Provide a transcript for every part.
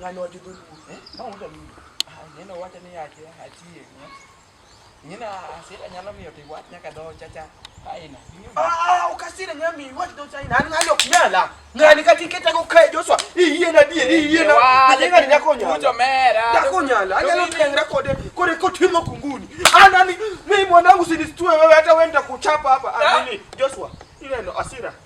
ng'ani wacho dholuo eh? ma wuod aludo ah, nyina wacho ni ache achie nyina asira nyalo miyo to iwach nyaka dho chacha aina ah, ah, ukasira nyami iwach dho chaina an ng'ani ok nyala ng'ani kata iketago kae joshua iyie na dier iyie na ng'ani nyako nyala nyako nyala anyalo tengre kode kode kotimo kunguni anani mimi mwanangu sinistue wewe hata wenda kuchapa hapa amini joshua ineno asira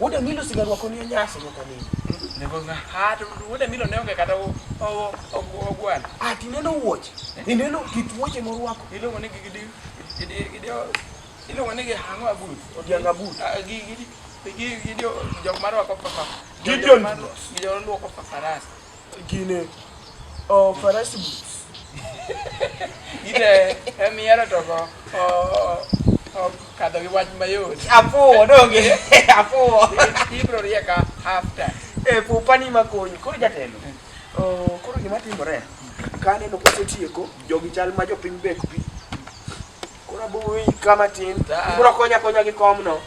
Wuod Emilo sigaro wako ni nyasi nyaka nini? Nebo nga. Ha to wuod Emilo ne onge kata ogwal. Ah ti neno wuoche. Eh? Ni neno kit wuoche morwako. Iluongo ni gidi gidi gidi iluongo ni gihango abut. Odianga abut. Ah, gidi gidi jok marwako papa. Gideon. Gideon luoko papa rasta. Gine, oh, farasi boots. Ide, emi yaro to go, oh, oh, kadho gi wach mayot. Afuwo, donge, afuwo. Ibro rieka after. E, pupa ni makonyi, koro jatelo. Oh, koro gima timore, ka aneno kosetieko, jogi chal ma jopiny bek pi. Koro abuwi kama tin, ibro konya konya gi komno.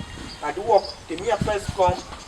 Aduok, timia pes kom,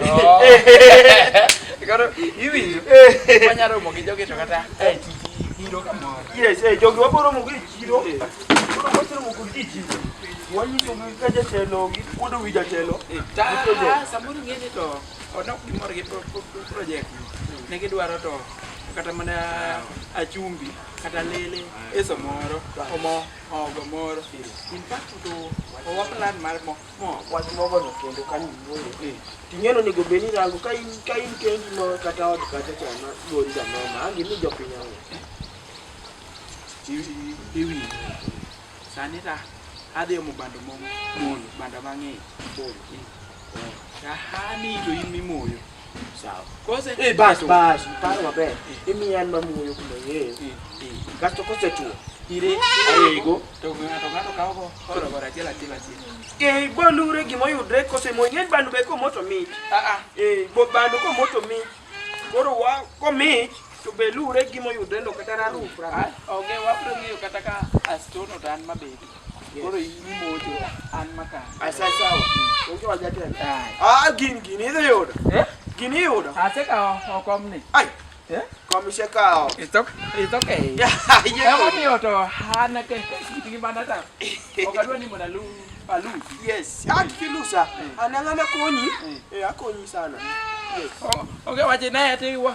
Oh. Koro iwinjo. Wanya romo gi jogi to kata e tiji biro kamoro. Yes, eh jogi wabiro romo gi chiro. Koro wabiro romo kod ji chiro. Wanyiso gi ka jatelo gi kuodo wi jatelo. Ta samoro ng'e ni to ono gimoro gi pro- pro- pro- project ne gidwaro to kata mana achumbi kata lele eso moro omo ogo moro in fact to owa plan mar mo wach mogono kendo ka niwuoyo eh. ting'eno onego bed ni rango ka in ka in kendi ma kata od kata chama gori jamama angi ni jopiny ang'o iwi sani ta adhi omo bando momo moyo bando mang'eny moyo eh. tahani to in mimoyo Sawa. Kose eh, bas bas, paro maber. Imiya an mamuyo kuma yeye. Eh, eh. Kasto kose tuo. Ire arego to ng'ato ng'ato kawo go koro bara achiel achiel achiel. Eh, bolure gimo yudre kose mo ng'eny bandu be ko moto mit. Ah ah. Eh, bo bandu ko moto mit. Koro wa ko mit to be lure gimo yudre ndo kata raru. Ah, onge wapro ng'eyo kata ka astono tan mabedi. Koro imocho an maka. Asa sawa. Ojo aja tena. Ah, gin gin idhi yudo. Eh? Gin yudo. Ase ka okom ni. Ai. Eh? Komisha ka. It's okay. It's okay. Yeah. Ema ni oto hana ke kitingi bana ta. Okadwa ni mona lu. Alu. Yes. Ah, kilusa. Anangana konyi. Eh, akonyi sana. Yes. Oh, okay, waje naye ati wa.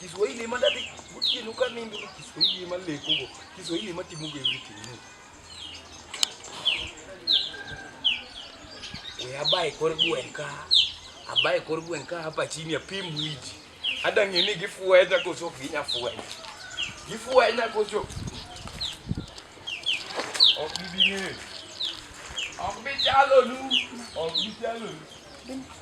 Kiswahili ema ndadhi gotieno ka nindo to Kiswahili ema lekogo, Kiswahili ema timogo everything no. We abaye kor gweng' ka, abaye kor gweng' ka hapa chini apim wiji. Ada ng'e ni gifwenya koso ok ginya fwenya. Gifwenya koso ok gibi ng'eyo. Ok bichalonu, ok bichalonu.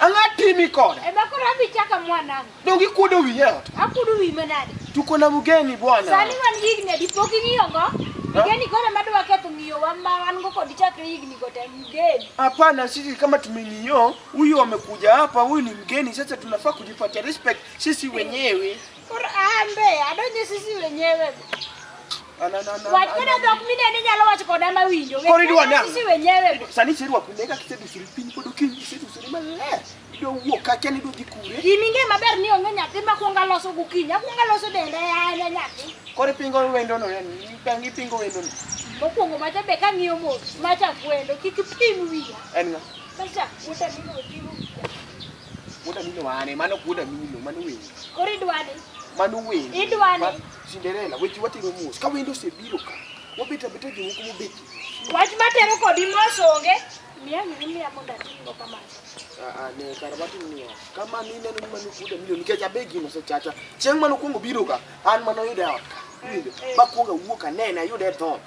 Ang'a timi koda. Ema koro adhi chaka mwanangu. Dongi kuodo wi yaot. Akuodo wi manade. Tuko na mugeni bwana. Sani wan higni adi pok ing'iyo go? Mugeni koro ema dwa ketho ng'iyo wa ma wan go kod chakre higni go te mugeni. Hapana, sisi kama tumeniyo huyu amekuja hapa, huyu ni mgeni, sasa tunafaa kujipatia respect sisi wenyewe. Koro ambe adonje sisi wenyewe. An- an- an- Wach an- koda an- dhok mineno inyalo wacho koda ma winjo. Koro idwa nang'o? Sisi wenyewe. Sani iserwako nega kisedusori piny pod okinyi isedusori maler. Idwa wuok kacha ni idwa dhi kure. Gima ing'e maber ni onge nyathi ma kwonga loso gokinyi. Akwonga loso dende an e nyathi. Koro ipingo wendono yani. Dang' ipingo wendono. Mokwongo macha be kang'iyo mos macha kwendo kik ipim wiya. En ng'a? Macha wuota ni oting'o wiya. Wuod Amino ane, mano ok wuod Amino, mano wendo. Koro idwani? Mano wendo. Idwani? Ma- Cinderella, weche watero mos. Ka wendo osebiro ka, wabet abeta jomoko mobet. Wach matero kodi mos onge. Miya gini miya mondo atimgo kamano. Ah, ah, ne kar watim niya, ka mano ineno ni mano wuod Amino, nikech abe gino osechacha. Chieng' mane okwongo biro ka, an mane oyuda e ot ka. Iwinjo? Bakwongo awuok anene, ayude e dhoot.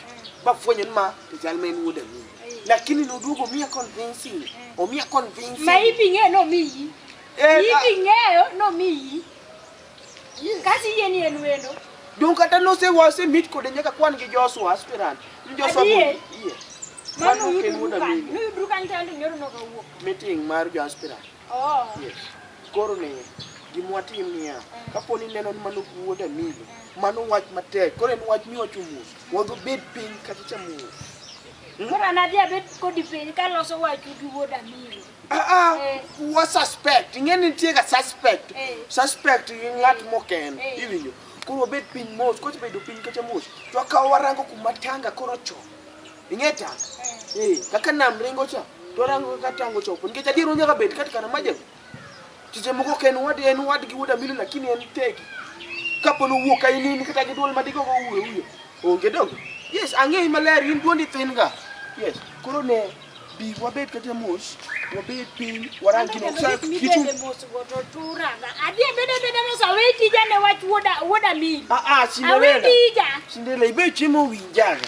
Bafwenyo ni ma to chal ma en wuod Amino. lakini noduogo omiya convincing omiya convincing ma ipi ng'eyo nomiyi Eh, ipi ah, ng'eyo nomiyi kasi yie ni en wendo dong kata nose wase mit kode nyaka kwan gi Joshua aspirant ni Joshua Adier. bol- iye mano Mano ok en wuod oyudrukan Amin. noyudru kany tayande nyoro nokawuok meeting mar jo aspirant Oh. Yes. Koro ne gima watim niya, kapo ni neno ni mano wuod Amilo, mano wach matek. Koro en wach miwacho mos. Wadhi bed piny kata cha mos. Koro an adhi abed kodi piny kaloso wachu gi wuod Amilo. Ah ah, Eh. wa suspect. Ing'e ni nitie ga suspect. Eh. Suspect gi ng'at moken. Eh. Iwinjo. Koro wabed piny mos, kocha bedo piny kacha mos. To akawo warango kuma tanga koro chon. ing'e tang eh kaka nam ringo cha to rango kaka tango chopo nikech adier onyaka bed kati kana majem tije moko ok en wad en wad gi wuoda milo lakini en tegi kapo ni owuok ka in in kata gi dwol madigo go uwe uyo onge dongo yes ang'eyi maler in dwondi thin ga yes koro ne bi wabed kata mos wabed piny warang gino Sa- kitu Midende mosgo to turaga. Adhi abeda abeda mos awe tija ne wach wuoda wuoda mil. ah ah Awe Cinderella tija. Cinderella ibe chiemo winjaga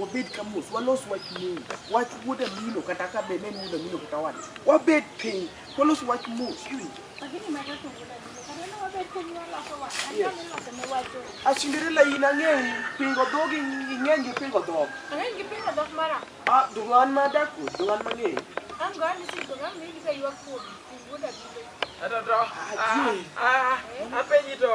wabed ka mos walos wach mos wach wuod amino kata ka be ne en wuod amino kata wade wabed piny walos wach mos iwinjo asinderela in ang'eyi pingo dhog ing'eny gi pingo dhog Ah, dhug'an ma adako dhug'an mang'eyi Apenji to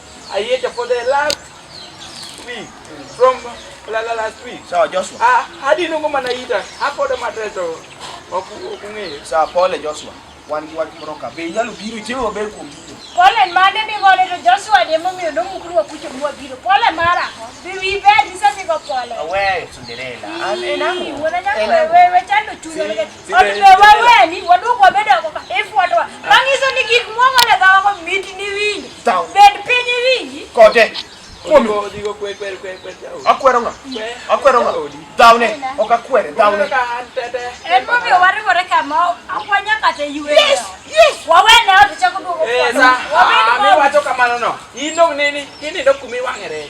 I ate for the last week from la la last week. Sawa Joshua. Ah, hadi nungo manaita. Hapo ndo mateto. Okung'eyo. Sawa pole Joshua. Wan gi wach moro ka. Be inyalo biro itiyo maber kuom biro. Pole mane mi ngole to Joshua de momiyo no mukuru wa kucho mwa biro. Pole mara. Be we bad sasa niko pole. Awe Cinderella. An enango. Wewe chando chulo. Otume waweni, waduok wabed oko ka ifuatwa. Manyiso ni gik mwang'o ne dhawako mit ni winji. Tao. Bed piny iwinji. Kode. Kuomi. Akwero ng'a? Akwero ng'a? Dhawne. Ok akwere. Dhawne. En momiyo wariwore kama akwanya kata ywe. Yes, yes. Wawene ot chako duogo. Eh, sa. Wabed Ah, oko. miwacho kamano no. Ino nini? Kinindo kumi wang'ere.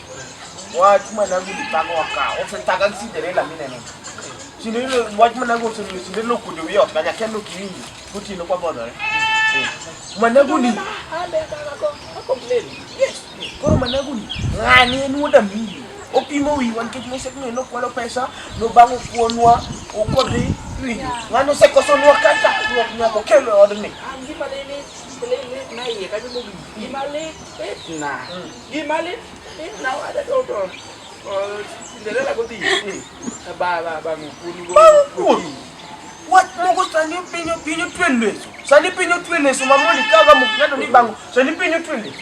Wachuma nangu ni tango waka. Ofe taga kisi tere la mine nene. Sini ilo wachuma nangu ofe ni sini ilo kudu wio. Kanya kendo kiwingi. Kuti ino kwa bodo re. Managu ni. Koro managu ni. Ngani enu oda mili. Opimo wi wan kech mwese kino ino kwalo pesa. No bango kuonwa. Ukodi. Ngani ose koso nwa kata. Nwa kina kokelo odni. Ngani ose koso nwa kata. Ngani ose koso nwa kata. Gima lit lit na wada to to. Cinderella go dhi. Ba ba ba ngukuni go. Ngukuni. What mogo sani pinyo pinyo twende. Sani pinyo twende so mamoli kaga mukado ni bango. Sani pinyo twende.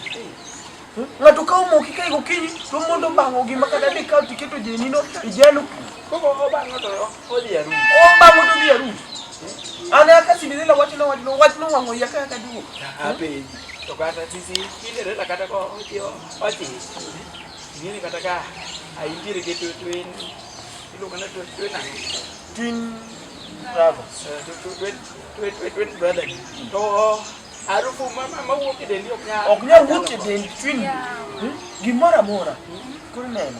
Ng'ato ka omoki ka igo kinyi to mondo bango gima kata ni ka tiketo jenino ijalo. Koko obango to odhi aru. Obango to odhi aru. Ana ka Cinderella wachno wachno wachno wang'o ya ka ka duo. Ape. To kata sisi kinde reta kata ko ochiwo ochi. Ngini kata ka aintiere gi twin iluongo na twin twin ang. Twin brothers. Twin twin twin twin brother. To harufu mama mawuok e dendi ok nyal. Ok nyal wuok e dendi twin. Gimora mora. Koro neno.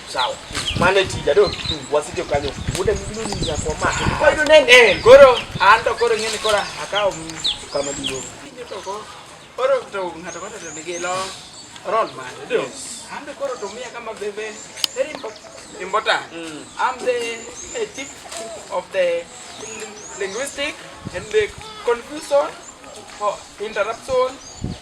Sawa. Mane tija do wasike kanyo. Wuode mino ni ya kwa ma. Kwa ndo nene. Eh, koro anto koro ngene koro akawo kama dingo. Kinyo to ko. Koro to ngata kata to nige lo. Ron man. Do. Anto koro to mia kama bebe. Very important. Imbota. Mm. I'm the uh, chief of the linguistic and the confusion for interruption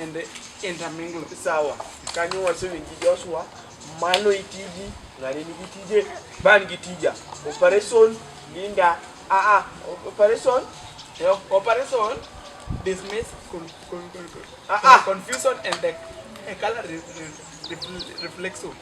and the intermingle. Sawa. Kanyo wase winji Joshua, mano itiji, ng'ani nigi tije, ban gi tija. Operation Linda, ah ah, operation, eh, operation dismiss con, con, con, con, ah ah, confusion and the eh, color re, re, re, reflexo.